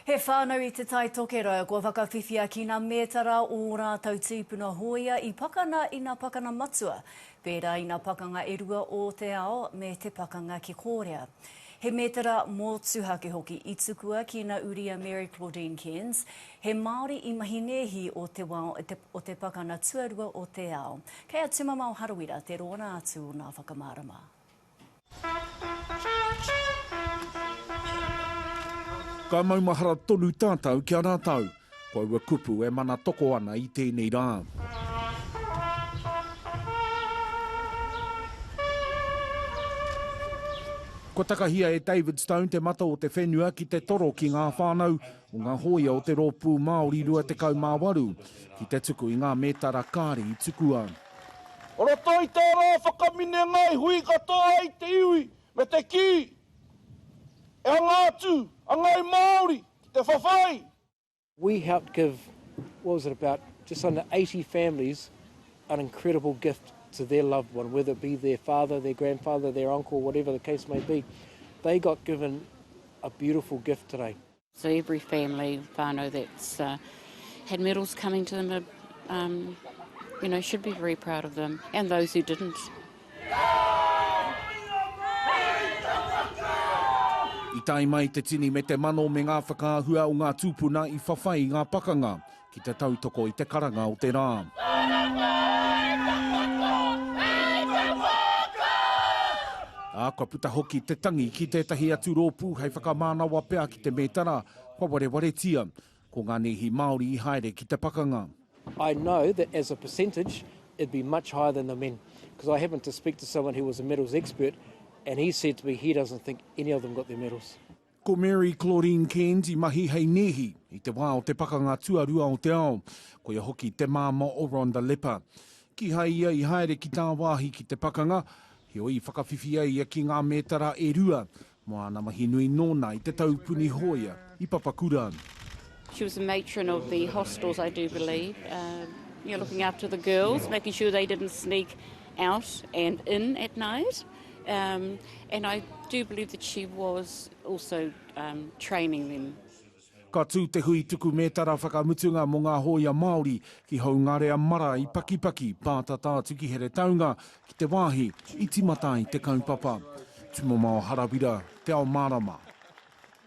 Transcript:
He whānau i Te Tai Tokerau kua whakawhiwhia ki nā mētara ō rātou tīpuna hōia i pakana i nā pakana matua, pērā i nā pakanga e rua ō te ao me te pakanga ki Kōrea. He mētara mōtuhake hoki i tukua ki nā Uria Mary Claudine Cairns, he Māori i mahi nēhi o te wao o te pakana tuarua o te ao. Kei a Tumamao Harawira te rōna atu o nā whakamārama. Ka maumahara tonu tātou ki a rātou. Ko aua kupu e mana toko ana i tēnei rā. Kua takahia e David Stone te mata o te whenua ki te toro ki ngā whānau o ngā hōia o te Rōpū Māori 28, ki te tuku i ngā mētara kāri i tukua. O roto i tā rā whakaminenga i hui katoa ai te iwi me te kī, E hanga atu a ngāi Māori ki te whawhai! We helped give, what was it, about just under 80 families an incredible gift to their loved one, whether it be their father, their grandfather, their uncle, whatever the case may be. They got given a beautiful gift today. So every family whānau that's uh, had medals coming to them, uh, um, you know, should be very proud of them and those who didn't. I tae mai te tini me te mano me ngā whakaahua o ngā tūpuna i whawhai i ngā pakanga. ki te tautoko i te karanga o te rā. Ā, kua puta hoki te tangi ki tētahi atu rōpū hei whakamānawa pea ki te mētara kua warewaretia. Ko ngā nēhi Māori i haere ki te pakanga. I know that as a percentage it'd be much higher than the men because I happened to speak to someone who was a medals expert and he said to me he doesn't think any of them got their medals. Ko Mary Claudine Cairns i mahi hei nēhi i te wā o te Pakanga Tuarua o te Ao, koia hoki te māmā o Rhonda Leppa. Kīhai ia i haere ki tāwāhi ki te pakanga, heoi i whakawhiwhi ai ia ki ngā mētara e rua mō āna mahi nui nōna i te taupuni hōia i Papakura. She was the matron of the hostels I do believe, looking after the girls, making sure they didn't sneak out and in at night. Um, and I do believe that she was also um, training them. Ka tū te hui tuku mētara whakamutunga mō ngā hōia Māori ki Houngarea Mara i Pakipaki, pātata atu ki Heretaunga, ki te wāhi i timata ai te kaupapa. Tumamao Harawira, Te Ao Mārama.